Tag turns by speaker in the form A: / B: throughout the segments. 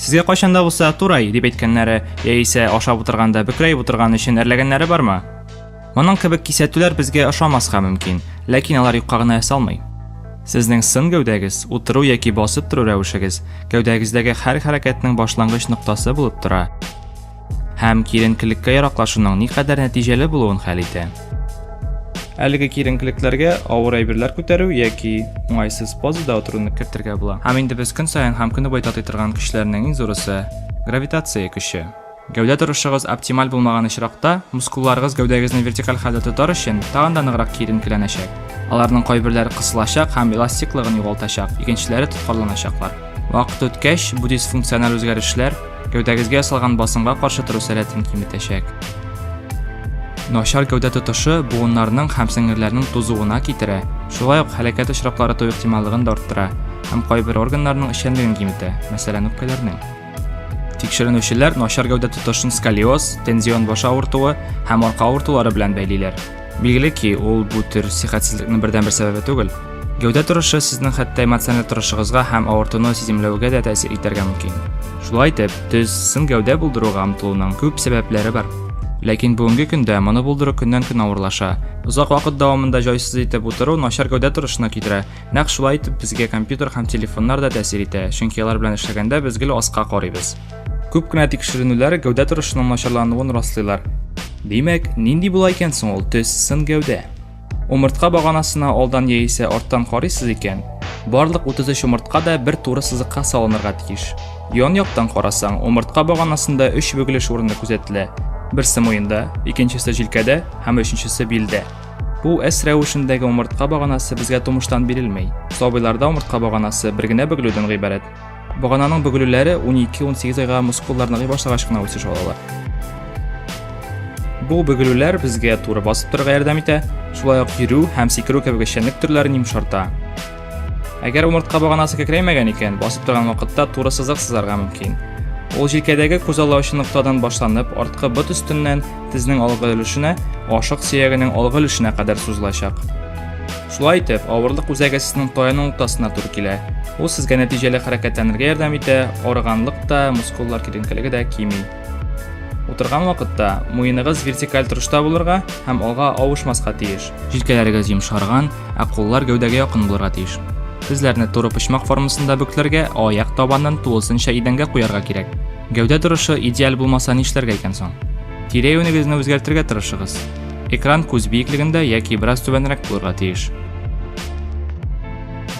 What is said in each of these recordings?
A: Сезгә кайчанда булса турай дип әйткәннәре, яисә ашап утырганда бөкрәй утырган өчен әрләгәннәре бармы? Моның кебек кисәтүләр безгә ошамаска мөмкин, ләкин алар юкка гына ясалмый. Сезнең сын гәүдәгез, утыру яки басып тору рәвешегез гәүдәгездәге һәр хәрәкәтнең башлангыч ноктасы булып тора. һәм киеренкелеккә яраклашуның никадәр нәтиҗәле булуын хәл итә. Әлеге киеренкелекләргә авыр әйберләр күтәрү яки уңайсыз позада утыруны кертергә була. Һәм инде без көн саен һәм көне буе татый торган көчләрнең иң зурысы гравитация көче. Гәүдә торышыгыз оптималь булмаган очракта, мускулларыгыз гәүдәгезне вертикаль хәлдә тотар өчен тагын да ныграк киеренкеләнәчәк. Аларның кайберләре кысылачак һәм эластиклыгын югалтачак, икенчеләре тоткарланачаклар. Вакыт үткәч, бу дисфункциональ үзгәрешләр Гәүдәгезгә ясалган басымга каршы тору сәләтен киметәчәк. Начар гәүдә тотышы буыннарның һәм сеңерләрнең тузуына китерә, шулай ук һәлакәт очраклары туу ихтималлыгын да арттыра һәм кайбер органнарның эшчәнлеген киметә, мәсәлән, үпкәләрнең. Тикшеренүчеләр начар гәүдә тотышын сколиоз, тензион баш авыртуы һәм арка авыртулары белән бәйлиләр. Билгеле ки, ул бу төр сихәтсезлекнең бердәнбер сәбәбе түгел. Гәүдә торышы сезнең хәтта эмоциональ торышыгызга һәм авыртуны сиземләвегә дә тәэсир итәргә мөмкин. Шулай итеп, төз сын гәүдә булдыруга омтылуның күп сәбәпләре бар. Ләкин бүгенге көндә моны булдыру көннән-көн авырлаша. Озак вакыт дәвамында җайсыз итеп утыру начар гәүдә торышына китерә. Нәкъ шулай итеп безгә компьютер һәм телефоннар да тәэсир итә, чөнки алар белән эшләгәндә без гел аска карыйбыз. Күп кенә тикшеренүләр гәүдә торышының начарлануын раслыйлар. Димәк, нинди була икән соң ул төс, сын гәүдә? Умыртка баганасына алдан яисә арттан карыйсыз икән, барлык 33 умыртка да бер туры сызыкка салынырга тиеш. Ян яктан карасаң, умыртка баганасында өч бөгелеш урыны күзәтелә. Берсе муенда, икенчесе җилкәдә һәм өченчесе билдә. Бу S рәвешендәге умыртка баганасы безгә тумыштан бирелми. Сабыйларда умыртка баганасы бер генә бөгелүдән гыйбарәт. Багананың бөгелүләре 12-18 айга мускуллар ныгый башлагач кына үсеш алалар. Бу бөгелүләр безгә туры басып торырга ярдәм итә, шулай ук йөрү һәм сикерү кебек эшчәнлек төрләрен йомшарта. Әгәр умыртка баганасы кәкрәймәгән икән, басып торган вакытта туры сызык сызарга мөмкин. Ул җилкәдәге күзаллаучы ноктадан башланып, арткы бот өстеннән тезнең алгы өлешенә, ашык сөягенең алгы өлешенә кадәр сузылачак. Шулай итеп, авырлык үзәге сезнең таяның уртасына туры килә. Ул сезгә нәтиҗәле хәрәкәтләнергә ярдәм итә, арыганлык та, мускуллар киленкелеге дә кими. Утырган вакытта муеныгыз вертикаль торышта булырга һәм алга авышмаска тиеш. Җилкәләрегез йомшарган, ә куллар гәүдәгә якын булырга тиеш. Тезләрне туры почмак формасында бөкләргә, аяк табанын тулысынча идәнгә куярга кирәк. Гәүдә торышы идеаль булмаса нишләргә икән соң? Тирә-юнегезне үзгәртергә тырышыгыз. Экран күз биеклегендә яки бераз түбәнрәк булырга тиеш.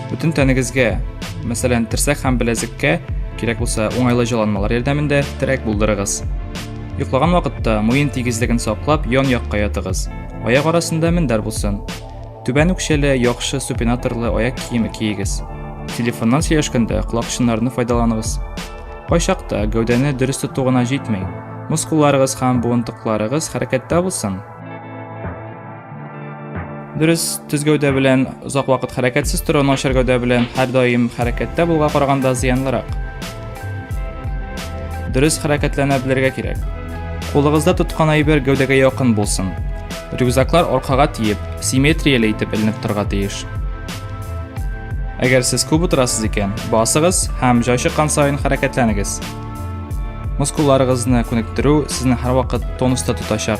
A: Бүтін тәнегезгә, мәсәлән, терсәк һәм беләзеккә кирәк булса, уңайлы җыланмалар ярдәмендә терәк булдырыгыз. Йоклаган вакытта муен тигезлеген саклап, ян якка ятыгыз. Аяк арасында мендәр булсын. Түбән үкчәле, яхшы супинаторлы аяк киеме киегез. Телефоннан сөйләшкәндә колакчыннарны файдаланыгыз. Кайчакта гәүдәне дөрес тоту гына җитми. Мускулларыгыз һәм буынтыкларыгыз хәрәкәттә булсын. Дөрес төз гәүдә белән озак вакыт хәрәкәтсез тору начар гәүдә белән һәрдаим хәрәкәттә булуга караганда зыянлырак. Дөрес хәрәкәтләнә белергә кирәк. Кулыгызда тоткан әйбер гәүдәгә якын булсын. Рюкзаклар аркага тиеп, симметрияле итеп эленеп торга тиеш. Әгәр сез күп утырасыз икән, басыгыз һәм җай чыккан саен хәрәкәтләнегез. Мускулларыгызны күнектерү сезне һәрвакыт тонуста тотачак.